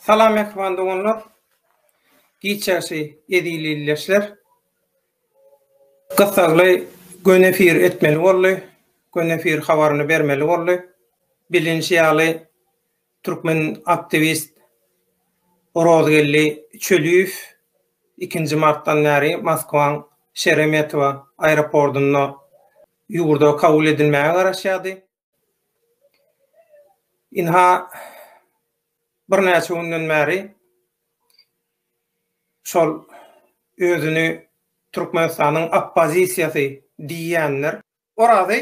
Salam mähriban doganlar. Giçäsi ezil ildeşler. Gyssagly göni efir etmeli boldy. Göni efir habaryny bermeli boldy. Bilinişi ýaly türkmen aktiwist Orozgeldi Çöliýew ikinji martdan bäri Moskwaň Şeremetowa aeropordynda ýurda kabul edilmäge garaşýardy. Ynha, birnäçe günden bäri şol özüni Türkmenistanyň oppozisiýasy diýýänler Orazy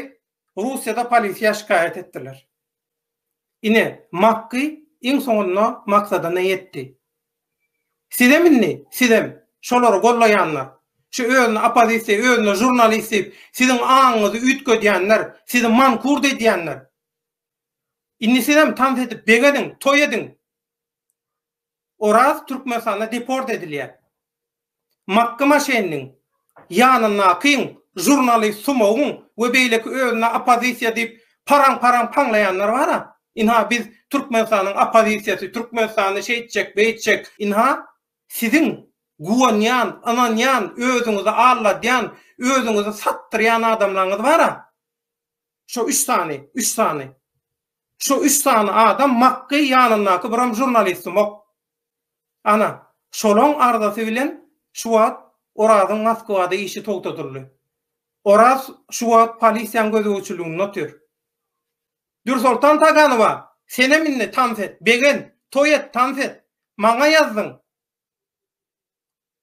Russiýada polisiýa şikaýat etdiler. Ine, Makgy iň soňunda maksadyna ýetdi. Sizem indi, sizem, şolary gollaýanlar, şu özüni oppozisiýa, özüni žurnalist diýip, siziň aňyňyzy üýtgedýänler, sizi mankurt edýänler, indi sizem tans edip begeziň, toý ediň! Oraz Türkmenistana deport edilýär. Makgy Maşenniň, ýanyndakyň, žurnalist Sumowyň we beýleki özüne oppozisiýa diýip paraň-paraň paňlaýanlar bar-a, ynha biz Türkmenistanyň oppozisiýasy, Türkmenistany şeýtjek, beýtjek, ynha siziň guwanýan, ynanýan, özüňizi alladýan, özüňizi satdyrýan adamlaryňyz bar-a, şo üç sany, üç sany. Şu üç sany adam Makgy ýanyndaky biram žurnalistimok. Ana, şolaň arzasy bilen şu wagt Orazyň Moskwada işi togtadyldy. Oraz şu wagt polisiýaň gözegçiliginde otyr. Dürsoltan Taganowa, senem indi tans et, begen, toý et, tans et. Maňa ýazdyň.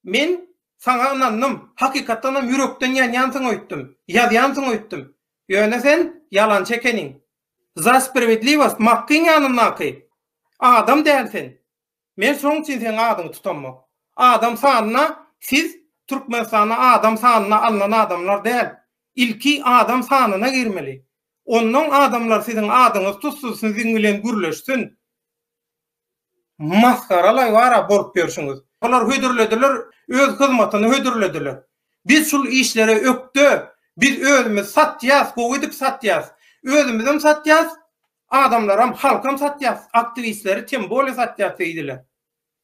Men Saňa ynandym, hakykatdan hem ýürekden ýanýansyň öýtdüm, ýazýansyň öýtdüm. Ýöne sen ýalançy ekeniň. Za sprawedliwost Makkyň ýanyndaky adam däl sen. Men şoň üçin seň adyňy tutamok. Adam sanyna siz Türkmenistanda adam sanyna alnan adamlar däl. Ilki adam sanyna girmeli. Onnoň adamlar siziň adyňyzy tutsun siziň bilen gürleşsin. Masgaralaý wara bolup ýörşüňiz. Olar hödürlediler, öz hyzmatyny hödürlediler. Biz şul işlere ökde, biz özümiz satýas, gowy edip satýas. Özümizem satýas, adamlaram, halkam satýas, aktiwistleri tem bolýa satýas diýdiler.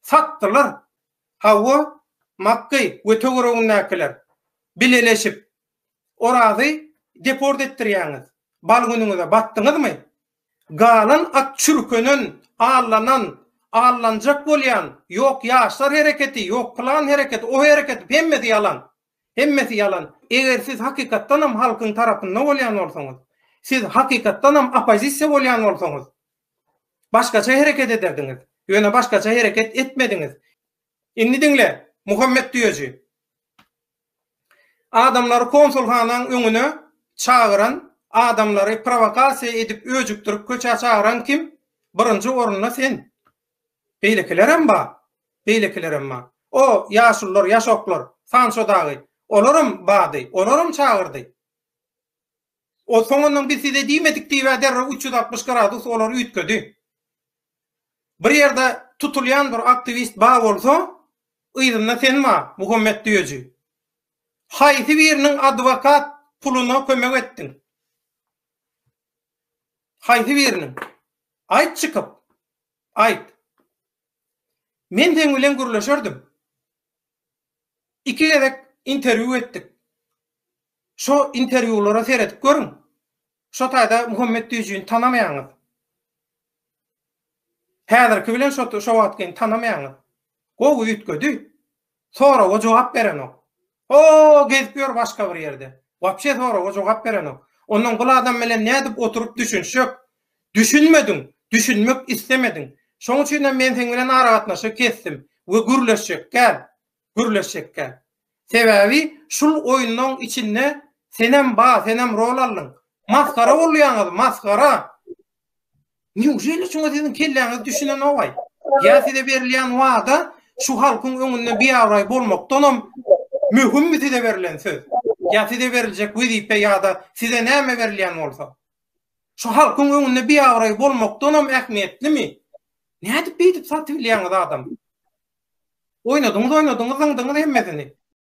Satdylar. Hawa, Makgeý we töweregindäkiler bileleşip Orazy deport etdirýäňiz. Bal günüňize batdyňyzmy? Galan at çürkenen, allanan, allanjak bolýan, ýok ýaşlar hereketi, ýok plan hereketi, o hereket, hemmesi ýalan. Hemmesi ýalan. Eger siz hakykatdanam halkyň tarapynda bolýan bolsaňyz, siz hakykatdanam oppozisiýa bolýan bolsaňyz, başgaça hereket ederdiňiz. Ýöne başgaça hereket etmediňiz. Indi diňle, Muhammet düýeji! Adamlary konsulhanaň öňüne çagyran, adamlary prowokasiýa edip öjükdirip köçä çagyran kim? Birinji orunda sen. Beýlekilerem ba, beýlekilerem ba. O, ýaşulylar, ýaşoklar, Sanço dagy, olaram bady, olaram çagyrdy. Ol soňundan biz size diýmedik diýibä derrew üç ýüz altmyş gradus olary üýtgedi. Bir ýerde tutulýan bir aktiwist ba bolsa, yzynda sen ba, Muhammet düýeji. Haýsy biriniň adwokat puluna kömek etdiň? Haýsy biriniň? Aýt çykyp. Aýt. Men seň bilen gürleşerdim. Iki gezek interwýu etdik. Şo interwýulara seredip görüň. Şo taýda Muhammet Düýjini tanamaýaňyz. Häzirki bilen şo şo wagtkyny tanamaýaňyz. Gowy üýtgedi. Soraga jogap berenok. O, gezip ýör başga bir ýerde. Wapşe soraga jogap berenok. Ondan bul adam bilen nädip oturyp düşünişjek? Düşünmediň, düşünmek islemediň. Şoň üçin hem men seň bilen aragatnaşygy kesdim we gürleşjekkäm, gürleşjekkäm. Sebäbi şul oýunlaň içinde senem ba, senem rol aldyň. Masgara bolýaňyz, masgara! Neujeli şuňa siziň kelläňiz düşünenogaý? Ýa size berilýän wada şu halkyň öňünde biabraý bolmakdanam möhümmi size berilen söz? Ýa size beriljek wezipe ýa-da size näme berilýän bolsa? Şu halkyň öňünde biabraý bolmakdanam ähmiýetlimi? Nädip beýdip satybilýäňiz adamy? Oýnadyňyz-oýnadyňyz, zyňdyňyz hemmesini.